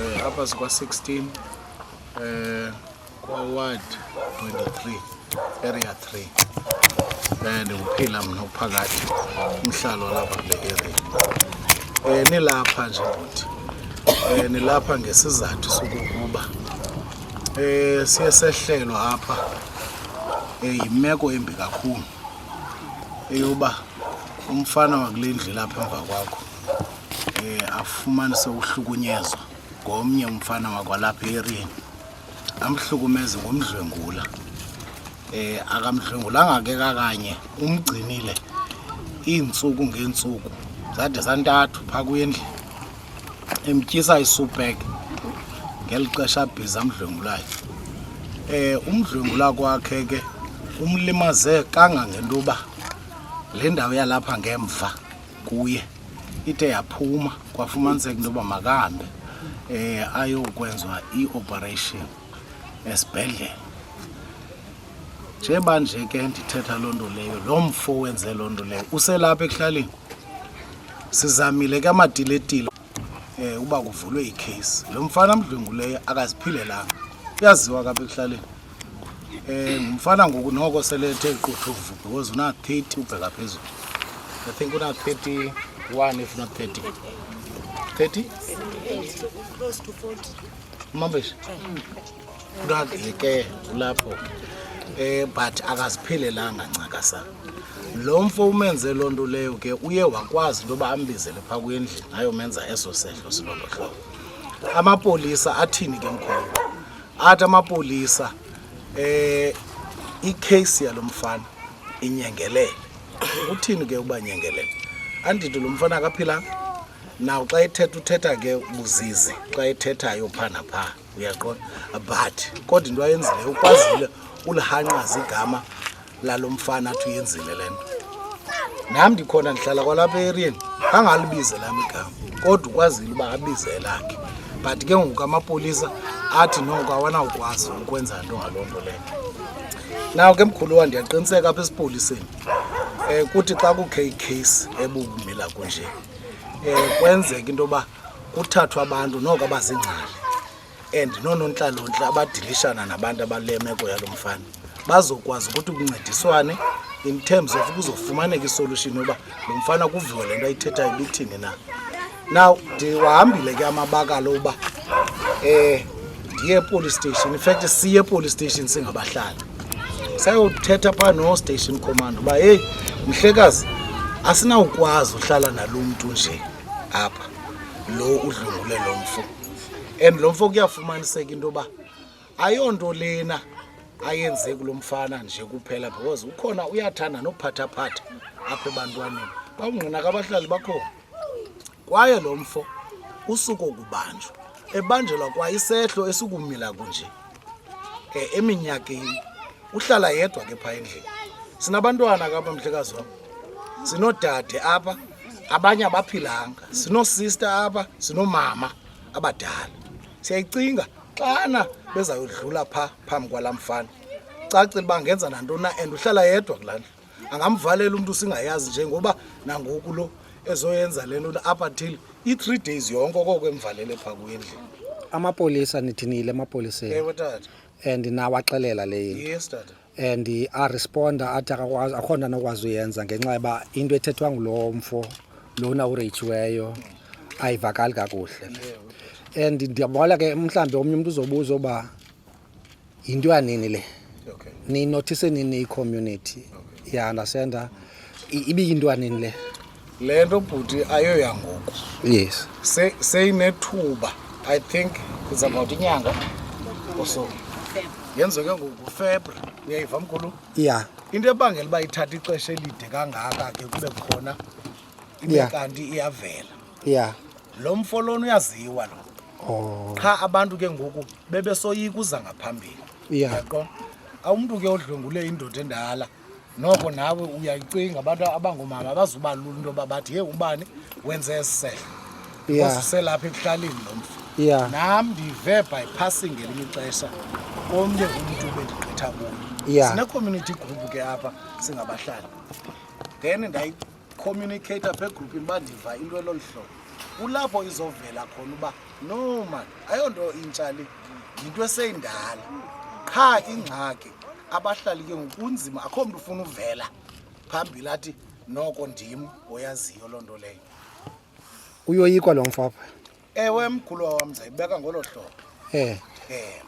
Eh, hapa zikwa 16 eh, kwa ward 23 area 3 eh, ndikuphila mna uphakathi umhlalo walapha kule area eh, nilapha nje bhuti eh, nilapha ngesizathu sokukuba eh, siye sehlelwa apha eh, yimeko embi kakhulu eyoba umfana wakule ndlu lapha emva kwakho um afumane sewuhlukunyezwa ngomnye umfana wakwalapha eriyeni amhlukumeze ngomdlwengula eh akamdlwengulanga ke kakanye umgcinile iintsuku ngeentsuku zade zantathu phaa kwendlu emtyisa isupek ngeli xesha abhiza amdlwengulayo eh umdlwengula kwakhe ke umlimaze kangangento yoba le ndawo yalapha ngemva kuye ide yaphuma kwafumaniseka into yoba makahambe um ayokwenziwa i-operation esibhedlele njeba nje ke ndithetha loo nto leyo loo mfo wenze loo nto leyo uselapha ekuhlaleni sizamile ke amatiletile um eh, uba kuvulwe ikheyisi lo mfana amdlwenguleyo akaziphilelanga uyaziwa kapha ekuhlaleni um ngumfana ngoku noko selethe iquthuvu because una-thirty ubheka phezulu i think una-thirty one if not thirty thirty umambesha Kukazike kulapho eh but akaziphelelanga ncakasa lo mfo umenze loo nto leyo ke uye wakwazi into yoba ambizele phaa kwendlini ayomenza eso sehlo silolo hlobo amapolisa athini ke mkhulu athi amapolisa eh ikheyisi yalo mfana inyengelele uthini ke uba nyengelele andithi lo mfana akaphilanga naw xa ethetha uthetha ke buzizi xa ethethayo phaa naphaa uyaqonda but kodwa into ayenzileyo ukwazile ulihanqaza igama lalo mfana athi uyenzile le nto nam ndikhona ndihlala kwalapha eriyeni angalibize lam igama kodwa ukwazile uba abize elakhe but ke ngoku amapolisa athi noko awanawukwazi ukwenza nto ngaloo nto leyo naw ke mkhulu wa ndiyaqiniseka apha esipoliseni um kuthi xa kukhe ikheyisi ebubumila kunje um kwenzeka into yoba kuthathwa abantu noko abazingcali and noonontlalontle abadilishana nabantu abale meko yalo mfana bazokwazi ukuthi kuncediswane in terms of kuzofumaneka isolution yoba lo mfana kuviwe le nto ayithethayo ibithini na now ndiwahambile ke amabakalo uba um ndiye epolice station infact siye epolice station singabahlali sayothetha phaa nostation command uba heyi mhlekazi asinawukwazi uhlala nalo mntu nje apha lo udlungule lo mfo and lo mfo kuyafumaniseka into yoba ayonto lena ayenze kulo mfana nje kuphela because ukhona uyathanda nophathaphatha apha ebantwaneni bawungqina kabahlali bakhona kwaye lo mfo usuke okubanjwa ebanjelwa kwa isehlo esikumila kunje um eminyakeni uhlala yedwa ke phaa endlini sinabantwana kapa mhlekazi wam sinodade apha abanye abaphilanga sinosista apha sinomama abadala siyayicinga xana bezayodlula phaa phambi kwala mfana cacile uba ngenza nantoni na and uhlala yedwa kulaa ndlu angamvalela umntu singayazi njengoba nangoku lo ezoyenza le nto up until i-three days yonke okoko emvalele phaa kwendlu amapolisa nithinile emapoliseni ewe tata and nawaxelela le yinto yes tata and aresponda athi akakwazi akho nto anokwazi uyenza ngenxa yoba into ethethwa ngulowo mfo lona ureyitshiweyo ayivakali kakuhle and ndiyabona ke mhlawumbi omnye umntu uzobuza uba yinto yanini le okay. ninothise nini icommunity okay. ya understanda ibiyinto yanini le le nto bhuti ayoyangoku yes seyinethuba se i think kuzabawuthi inyanga oso yenzeke ngoku febra uyayiva mkhulu ya yeah. into ebangela uba ithatha ixesha elide kangaka ke kube khona ibe kanti iyavela ya lo mfo lona uyaziwa lo oh. qha abantu ke ngoku bebesoyika uza ngaphambili yaqo awumntu ke odlwengule indoda endala noko nawe uyayicinga abantu abangoomama abazuba lula into yoba bathi yeyi ubani wenze esi sehlo yeah. uselapha ekuhlaleni lo mfo yeah. nam ndive by passing ngelinye ixesha omnye umntu bendigqitha kuyo yeah. sine-community group ke apha singabahlali then ndayi communicate apha egrupini bandiva into elolu hlobo kulapho izovela khona uba no man ayonto intsha le yinto eseyindala qha ingxaki abahlali ke ngokunzima akho mntu ufuna uvela phambili athi noko ndim oyaziyo loo nto leyo uyoyikwa lo mfapha ewe mkhulu wam ndizayibeka ngolo hlobo eh eh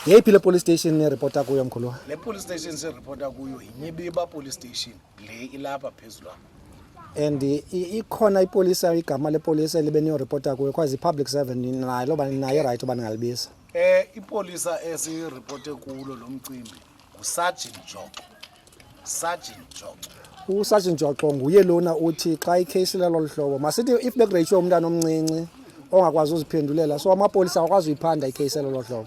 yeyiphi le police station niripota kuyo mkhulu le police station siripota kuyo yinyibiba police station le ilapha phezulu apha and i- i- ikhona ipolisa igama lepolisa elibe niyoripota kuyo because i-public servant nayo loba nayo rayithi uba ningalibisa eh ipolisa esiripote kulo lo mcimbi ngusajini joko Sergeant Joxo. USergeant Joxo nguye lona uthi xa ikheyisi lelo luhlobo masithi if begreyitshwe umntana omncinci ongakwazi uziphendulela so amapolisa awakwazi uyiphanda ikheyisi lelo hlobo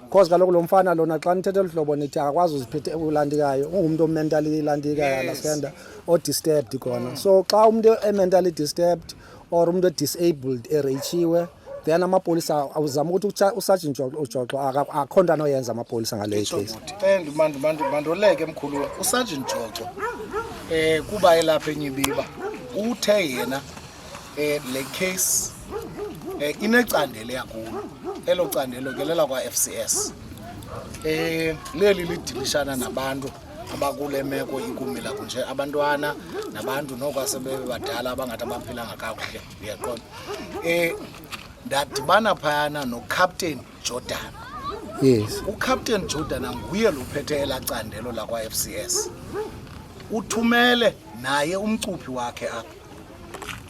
because kaloku lo mfana lona xa nithethe luhlobo nithi akakwazi uziphethe ulantikayo ungumntu omentally lantikayo understanda odisturbed khona so xa umntu ementally disturbed or umntu edisabled ereyichiwe then amapolisa awuzama ukuthi usajintsho ujoxo akho nto anoyenza amapolisa ngale case mandoleke mkhulu usajinti joxo um kuba elapha enyibiba uthe yena um le case um eh, inecandelo yakulo elo candelo ke lela kwa-f c s um leli lidilishana nabantu abakule meko ikumila kunje abantwana nabantu noko asebebadala abangathi abaphilanga kakuhle uyaqonda um eh, ndadibana phayana nocaptain jordan yes ucaptain jordan anguye luphethe elaa candelo lakwa-f c s uthumele naye umcuphi wakhe apha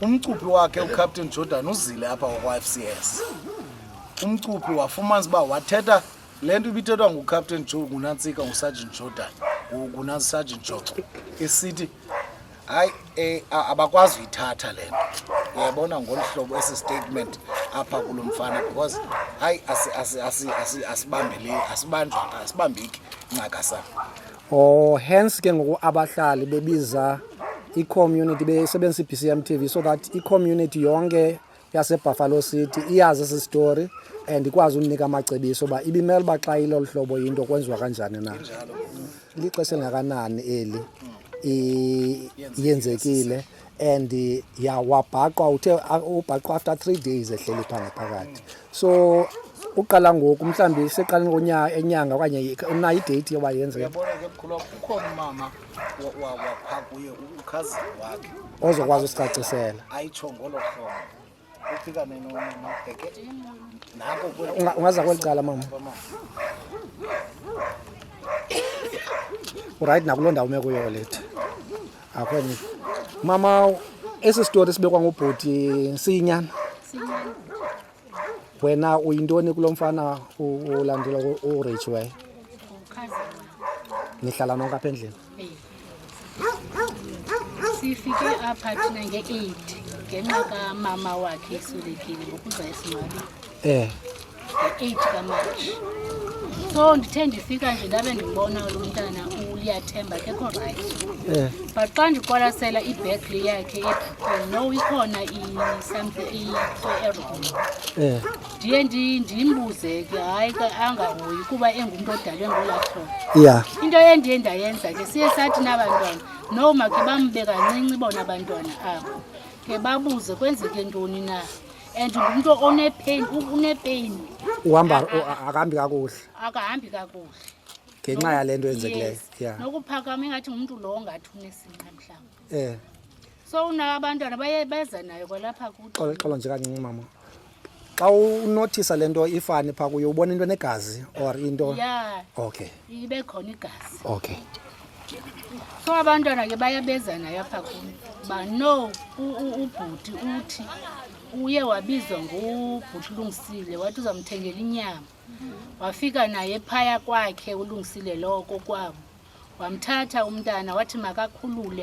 umcuphi wakhe ucaptain jordan uzile apha wakwa-f c s umcuphi wafumana uba wathetha le nto ibithethwa ngucaptain jo ngunantsika ngusargent jordan ngunasargent joxo isithi hayi eh, abakwazi uyithatha le nto uyabona ngolu hlobo esi statement apha kulo mfana because hayi asibambeki ncaka sa oh hence ke ngoku abahlali bebiza i-community besebenzisa i-bcm tv so that i-community yonke yasebuffalo city iyazi esi story and ikwazi umnika amacebiso uba ibimele uba xa ilolu hlobo yinto kwenziwa kanjani na lixesha elingakanani eli yenzekile and ya wabhaqwa uthe ubhaqwa after three days ehleli phaa ngaphakathi so uqala ngoku mhlawumbi seqaleni enyanga okanye unayo ideyithi yoba yenzeke wapha kuye ukhazi wakhe ozokwazi usicacisela ayitsho ngolo hlobo ufika nenonobheke nako ungaza kweli cala mama urayithi nakuloo ndawo ume kuyo lethi akho enye mama esi sitori sibekwa ngubhuti siyinyana wena uyintoni kulo mfana ulandela urich wayo nihlala nonke apha endlini sifike apha thina nge-eight ngenxa kamama wakhe eswelekile ngokuza esimali um nge-eight kamarch so ndithe ndifika nje ndabe ndibona lo mntana uliyathemba kekho rayithi eh. but xa ndiqwalasela ibheg le yakhe no ikhona eh. ndiye ndimbuze ke hayi ke angahoyi kuba engumntu odalwe ngolathona ya into endiye ndayenza ke siye sathi nabantwana no makhe bambe kancinci bona abantwana abo ke babuze kwenzeke ntoni na and ngumntu onepain unepain uhamba akahambi kakuhle akahambi kakuhle ngenxa yale nto yenzekileyo nokuphakama ingathi ngumntu lowo ngathi unesinqa mhlawumbi eh so unaka abantwana baye beza nayo kwalapha kuqo xola xola nje kancinci mama xa unothisa le nto ifani phaa kuyo ubona into enegazi or into ya okay ibe khona igazi okay so abantwana ke baye beza nayo apha kum uba no u- u- ubhuti uthi uye wabizwa ngubhuti ulungisile wathi uzamthengela inyama wafika naye phaya kwakhe ulungisile loko kwabo wamthatha umntana wathi makakhulule